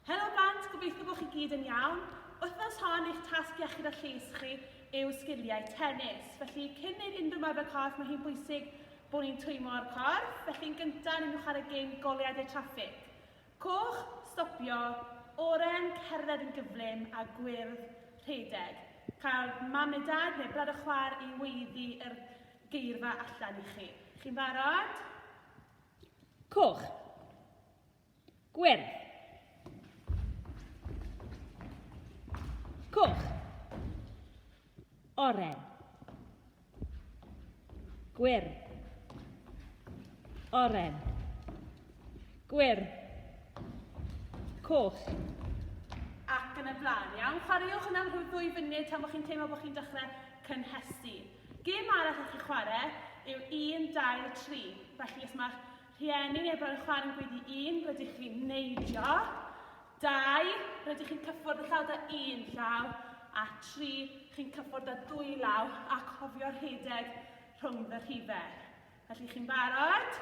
Helo blant, gobeithio bod chi gyd yn iawn. Wythnos hon, eich tasg iechyd a lles chi yw sgiliau tennis. Felly, cyn neud unrhyw marfer corff, mae hi'n bwysig bod ni'n twymo o'r corff. Felly, yn gyntaf, ni'n chwarae gêm goleuadau traffig. Coch, stopio, oren, cerdded yn gyflym, a gwyrdd, rhedeg. Cael mam neu dad neu brad a chwaer i weiddi yr geirfa allan i chi. Chi'n barod? Coch. Gwyrdd. Coch. Oren. Gwyrdd. Oren. Gwyrdd. Coch. Ac yn y blaen, iawn. Chwaraewch yn amhwrddwy funud tan bod chi'n teimlo bod chi'n dechrau cynhesu. Gêm arall allwch chi chwarae yw 1, 2, 3. Felly os mae'ch rhieni neu brawd yn chwarae yn gweddi 1, rydych chi'n neidio, 2, rydych chi'n cyffwrdd y llaw da un llaw, a 3, chi'n cyffwrdd da dwy law a cofio rhedeg rhwng fy rhifau. Felly chi'n barod?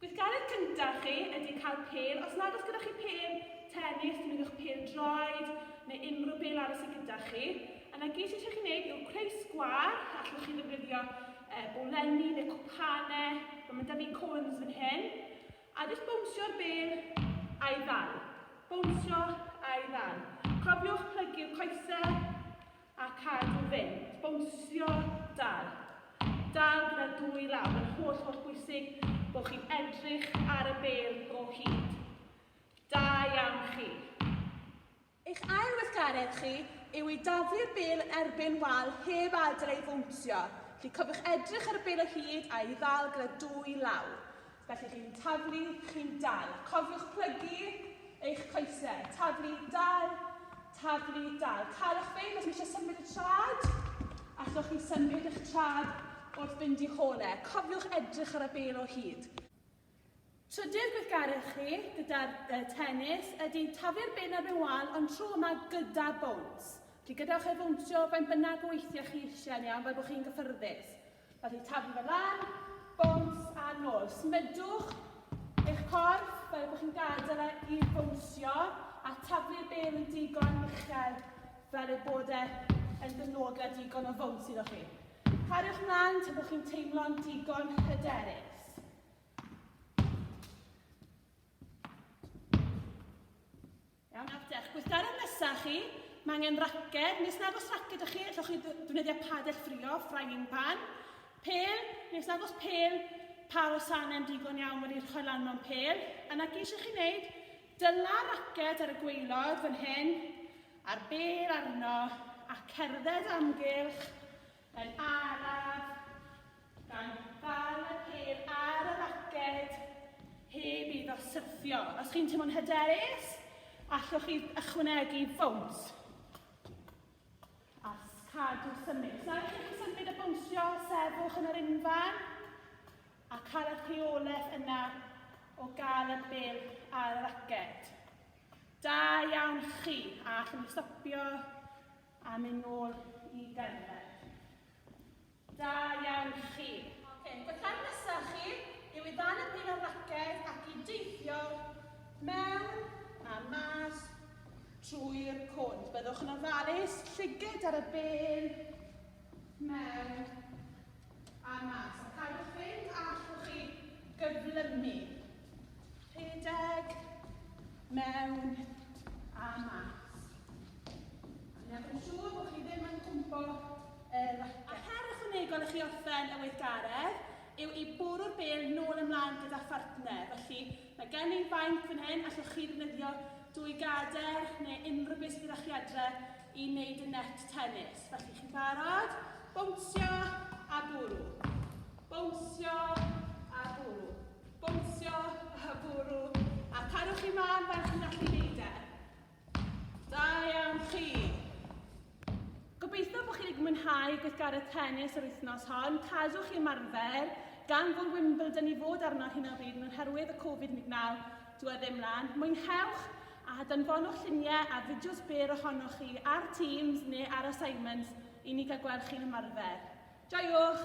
Gweithgaredd cyntaf chi ydy cael pêl, os nad oes gyda chi pêl tenis, defnyddiwch pêl draed neu unrhyw bêl arall sydd gyda chi. Yna gyd sydd eisiau chi wneud yw creu sgwâr, allwch chi ddefnyddio e, bolenni neu cwpanau, mae ma 'da fi cones fan hyn, a jyst bownsio'r bêl a'i ddal. Bownsio a'i ddal. Cofiwch plygu'r coesau a cadw fynd, bownsio, dal. Dal gyda'r dwy law, mae'n holl holl bwysig bod chi'n edrych ar y bel o hyd. Da iawn chi. Eich ail weithgaredd chi yw i daflu'r bel yn erbyn wal heb adael ei fownsio, felly cofiwch edrych ar y bel o hyd a'i ddal gyda dwy law. Felly chi'n taflu, chi'n dal. Cofiwch plygu eich coesau. Taflu, dal, taflu, dal. Calwch fe, os eisiau symud y trad, allwch chi symud eich trad wrth fynd i'ch hole. Cofiwch edrych ar y bel o hyd. Trydydd gweithgaredd chi gyda'r uh, tennis ydy taflu'r bin ar mewn wal ond tro yma gyda bowns. Felly gadewch e fownsio ben bynnag o weithiau chi eisiau yn iawn fel bod chi'n gyffyrddus. Mae rhaid taflu fe lan, bowns a nôl. Smydwch eich corff fel bod chi'n gadael e i fownsio a taflu'r bêl yn digon uchel fel ei bod e yn dynodl a digon o fowns iddo chi. Cariwch mlaen tan bod chi'n teimlo'n digon hyderus. Iawn, nawr dewch. Gweithgaredd nesaf chi, mae angen raced, nes nag os raced ydych chi, allwch chi ddefnyddio padell ffrio, frying pan, pel, nes nag os pel, pa wasanau'n digon iawn wedi rhoi lan mewn pel, yna geisio chi wneud, dyla raced ar y gweilod fan hyn, a'r bel arno, a cerdded amgylch Yn araf, gan ddal y pêl ar y raced heb iddo syrthio. Os chi'n teimlo'n hyderus, allwch chi ychwanegu ffowns. A cadw symud. Os nad ydych chi'n symud a bwnsio, sefwch yn yr unfan a cael eich rheolaeth yna o gael y bêl ar y raced. Da iawn chi, a allwn ni stopio A mynd nôl i gerdded. Da iawn chi. Ok, y cam nesa chi yw i ddal-y-bryn ar raced ac i deithio mewn a mas trwy'r cwnt. Byddwch yn ofalus, llyged ar y bên, mewn a mas. A cadw'ch fynd a allwch chi gyflymu. Rhedeg mewn a mas. Dwi'n newid yn siŵr bod chi ddim yn cwmpo yr racet. A her ychwanegol i chi orffen y weithgaredd yw i bwrw'r bêl nôl ymlaen gyda phartner. Felly, mae gen i fainc fan hyn, allwch chi ddefnyddio dwy gader neu unrhyw beth sydd gyda chi adre i wneud y net tennis. Felly, chi'n barod? Bownsio a bwrw. Bownsio a bwrw. Bownsio, a bwrw, a carwch chi mân fel chi'n gallu neud e. Da iawn chi. Gobeithio bod chi wedi mwynhau gweithgaredd tennis yr wythnos hon. Cadwch chi ymarfer, gan fod Wimbledon i fod arno ar hyn o bryd yn oherwydd y Covid-19, dwi e ddim lan. Mwynhewch a danfonwch lluniau a fideos byr ohonoch chi ar Teams neu ar assignments i ni gael gweld chi'n ymarfer. Joiwch!